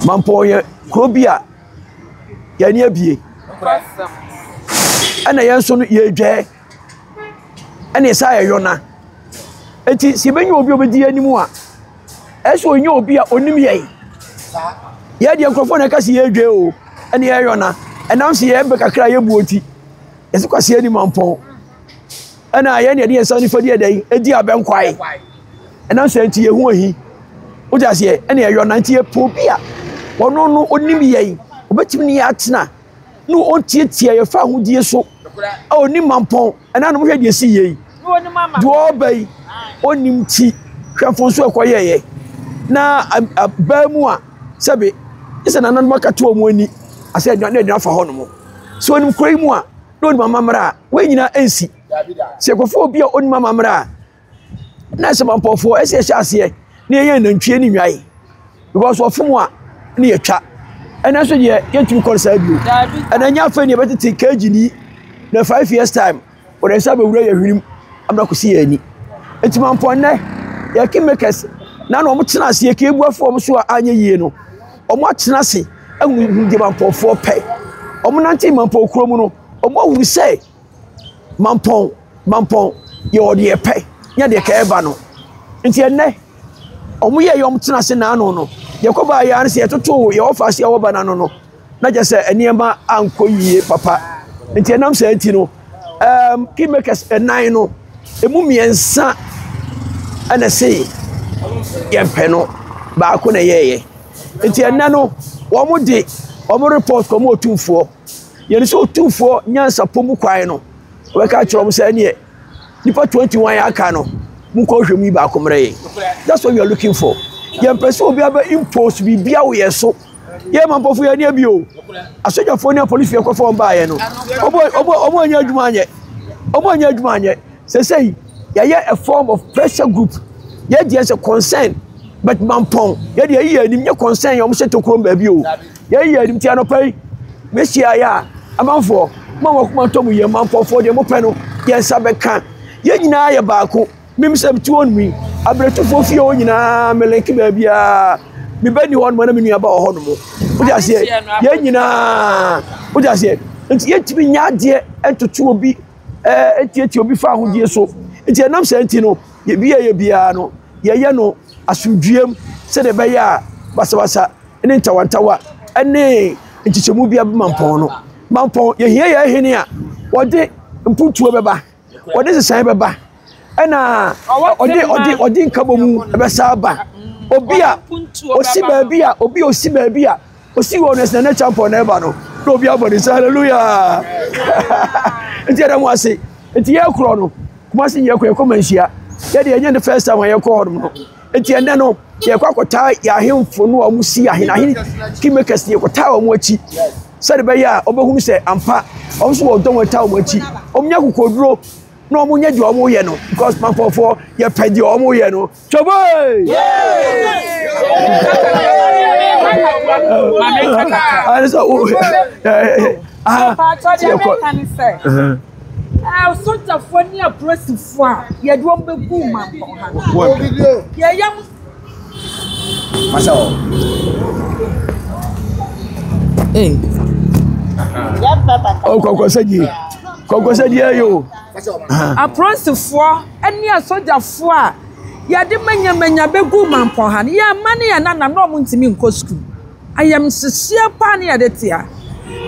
Mampɔn yɛ kuro bi a yɛn ani abie ɛna yɛn nso no yɛredwɛɛ ɛna ɛsɛ a yɛyɔ na nti sɛ yɛbɛnya obi a ɔbɛdi yɛn anim a ɛsɛ ɔnyɛ obi a ɔnim yɛn yɛdeɛ nkurɔfoɔ na ɛka sɛ yɛredwɛɛ o ɛne yɛyɔ na ɛnam sɛ yɛbɛ kakra a yɛbuo nti yɛsɛ kwaseɛ ni mampɔn Ɛna yɛn deɛ de yɛn nsa nifa di ɛdɛ yi edi abɛn kwae ɛnam sɛ nti yɛn ho ahi wogye aseɛ ɛna ɛyɔ na nti yɛpɛ obi a ɔno no onim yɛn obetumi ne yɛ atena na ɔntietie yɛfa ahodie so a onim mampɔn ɛna nom hwɛ deɛ si yɛ yi deɛ ɔba yi onim ti hwɛ mfonso ɛkɔ yɛ yɛ na abaa mu a sɛbe ɛsɛ nananom akatoa wɔn ani asɛ ɛdwa na ɛdwa fa hɔ nom so onim kura yi mu a na onim amammerɛ a wɔn nyinaa nsi sɛ yɛkɔfa obi a onim amammerɛ a na sɛ mampɔfoɔ ɛsɛ ɛhyɛ aseɛ na yɛyɛ nantwie ne nnwae because wɔfom a ne yɛtwa ɛnɛ nso deɛ yɛntumi kɔ saa bio ɛnɛ nyɛ afei ne yɛbɛtete kagyi ni na five years time wɔde nsa bɛwura yɛ hwenem amena kɔsi yɛn ani nti mampɔ nnɛ yɛ kingmakers na na wɔn tena aseɛ kiebuafoɔ wɔn so a anyɛ yie no Wɔatena ase ahu hu deɛ mampɔnfoɔ pɛ. Wɔnante mampɔn kuro mu no, wɔahunu sɛ mampɔn mampɔn yɛ ɔdeɛ pɛ nyɛ deɛ kɛɛ ba no. Nti ɛnɛ, wɔyɛ yɛ wɔtena ase n'ano no, deɛ kɔbaa yɛ ano sɛ yɛtoto yɛ wɔfa ase a wɔba n'ano no, na kyɛ sɛ nneɛma ankɔ yie papa. Nti ɛnam saa nti no, um, kingmakers ɛnan no, Emu mmiɛnsa na ɛse yɛmpɛ no, baako na ɛyɛeɛ. Nti ɛnɛ no, wɔn de wɔn report kɔma otumfoɔ. Yɛn sɛ otumfoɔ nyansapɔ mu kwan no, wɔbɛka akyerɛ wɔn sɛ ɛneɛ nipa 21 aka no, mokɔ hwɛ mu yi baako mmerɛ yɛn. That's what we are looking for. Yɛmpɛ sɛ obi abɛ impose biribi wɔ yɛn so. yɛ ma mpɔfo yɛ nneɛ bi o asogyafoɔ ne apolisifoɔ ɛkɔfa wɔn baayɛ no wɔn anyɛ adwuma anyɛ wɔn anyɛ adwuma anyɛ sɛsɛyi yɛyɛ a form of pressure group yɛ deɛ sɛ concern but mampɔn yɛ deɛ yɛ anim nyɛ concern yɛ wɔn hyɛ tokuro baabi o yɛ yɛ anim ti anɔpa yi mehyia yɛ a amanfoɔ mo a wɔkoma ntɔm yɛ mampɔfoɔ deɛ mo pɛ no yɛn nsa bɛka yɛn nyinaa yɛ baako. Mim sɛ mete hɔ nom yi, abiretufoɔ fie hɔ nyinaa me link baabiara. Me bɛ ni hɔ nom na me nua ba wɔ hɔ nom. Wode aseɛ, yɛn nyinaa, wode aseɛ. Nti yɛntumi nya adeɛ ntoto obi, ɛɛ ntiatia obi fa ahodie so. Nti ɛnam sɛ nti no, yɛbi yɛyɛ biara no, yɛyɛ no asomdwuam sɛdeɛ ɛbɛyɛ a basabasa ne ntawantawa ne nkyekyɛmu bi abɛma mpɔn no. Mampɔn, yɛhia yɛn hene a wɔde mpuntuo bɛba. wɔde nsesaeɛ bɛba ɛna ɔde ɔde ɔde nkabɔ mu bɛsa aba obi a osi baabi a obi a osi baabi a osi wɔ no ɛsɛ ne champion na ɛba no na obi abɔ ne nsa hallelujah nti ɛdɛm ase nti yɛ korɔ no kumasi yɛ kɔ yɛ kɔ manhyia yɛ de yɛnyɛ ne first time a yɛ kɔ hɔ nom no nti ɛnɛ no yɛ kɔ akɔtaa yɛ ahemfo no a wɔn si ahen ahen kingmakers yɛ kɔtaa wɔn akyi. sɛdeɛ ɛbɛyɛ a wɔbɛhunu sɛ ampa wɔn nso wɔ dɔm ɛtaa wɔn akyi wɔnya kokoduro na wɔn nyɛ deɛ wɔn yɛ no because mankɔfoɔ yɛpɛ deɛ wɔn yɛ no twɛbɔe ɛne sɛ wo sogyafoɔ ne apolisifoɔ a yɛde wɔn bɛgu mankɔ ha yɛyɛ Aporansefoɔ ne asogyafoɔ a yɛde manyamanya bɛgu man pɔn ha no, yɛn mma ne yɛn nana na wɔntumi nkɔ sukuu. Ayamhyehyeɛ paa ne yɛde te ha.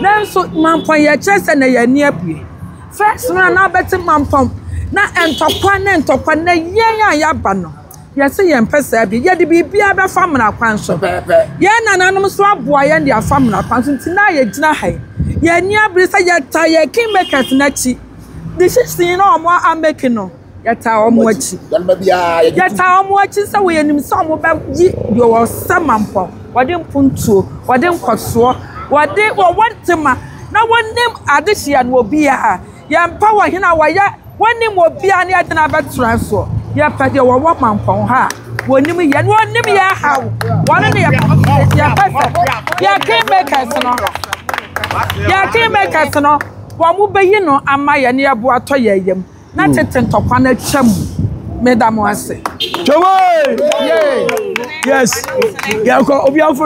Nanso man pɔn yɛkyerɛ sɛ na yɛn ani abue. First no a na wobɛte man pɔn na ntɔkwa ne ntɔkwa na yɛn a yɛaba no. Yɛse yɛmpɛ saa bio. Yɛde biribiara bɛfa mmara kwan so. Yɛn nananom nso aboa yɛn de afa mmara kwan so. Nti na yɛgyina ha yi. Yɛnni abere sɛ yɛtaa yɛn kingmakers no akyi. Decision no a wɔn amake no, yɛtaa wɔn akyi. Yɛtaa wɔn akyi sɛ wɔ yɛnim sɛ wɔbɛyi deɛ wɔsɛ mampɔn, wɔde mpontuo, wɔde nkɔsoɔ, wɔde wɔwɔ ntema na wɔnim adehyeɛ no wɔ biara. Yɛmpɛ wɔ hene a wɔyɛ wɔnim obiara ne yɛde no abɛtra soɔ. Yɛpɛ deɛ wɔwɔ mampɔn ha a wɔnim yɛn na wɔnim yɛn haw. Wɔne ne yɛpɛ sɛ yɛpɛ sɛ yɛn kingmakers no yɛn kingmakers no wɔbɛyi no ama yɛn na yɛbo atɔ yɛn yam na tete ntɔkwa no atwa mu. Meda mo ase. Twawee! Yes. Yɛkɔ obi afo.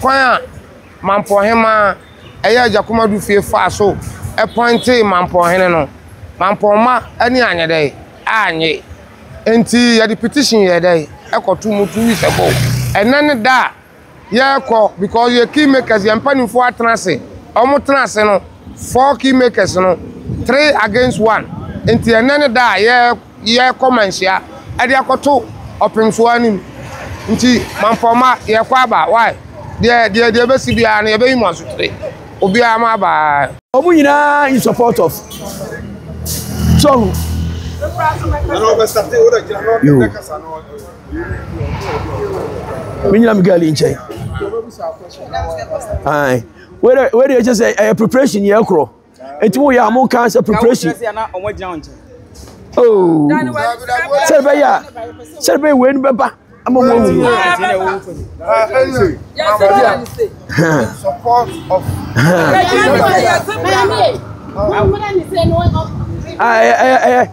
Kwan a Mampɔnhemaa a ɛyɛ Agyakom Adu fie faa so pɔintee Mampɔnhene no, Mampɔnma ani anyɛ dɛ? Annye. Enti yɛde petition yɛɛ dɛ? Ɛkɔtoo mu two weeks ago. Ɛnnɛ ne da a yɛrekɔ because yɛ key makers, yɛn mpanimfoɔ atena ase. Wɔtena ase no, four key makers no, three against one. Enti ɛnnɛ ne da a yɛ. yɛrekɔ manhyia ɛde akɔto ɔpemfoɔ no mu nti mampɔma yɛrekɔ aba why deɛ deɛ deɛ ɛbɛsi biara no yɛbɛyi mo asotire obiara mo aba. Wɔn nyinaa in support of so ɔho. Yo. Menyina me girl nkyɛn. Ae. Where where ɛkyɛ sɛ ɛyɛ preparation yɛ korɔ. Eti mo yɛ a mo kan sɛ preparation. Oh, sɛ bɛ yɛ sɛ bɛ wei ni bɛ ba ama mo awu. Ɛyɛ ɛyɛ ɛyɛ.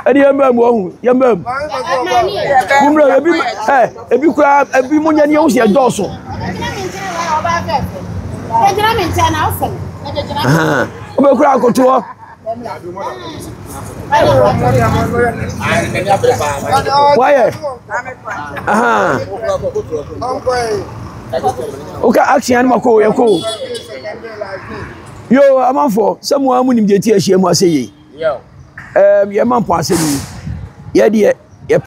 ɛne yɛmmra mu ɔhu yɛmmra mu mommra ebi ɛ ebi koraa ebi mo nyɛ ne yɛho sɛ ɛdɔɔso wobɛkura akoto hɔ wayɛ woka action no makɔ yɛkɔ Yo, amanfoɔ, sɛ mo ara mo nim deɛ ti ahyia mu asɛ yei. Ɛɛm, yɛma mpɔn asɛm yi, yɛ deɛ yɛ.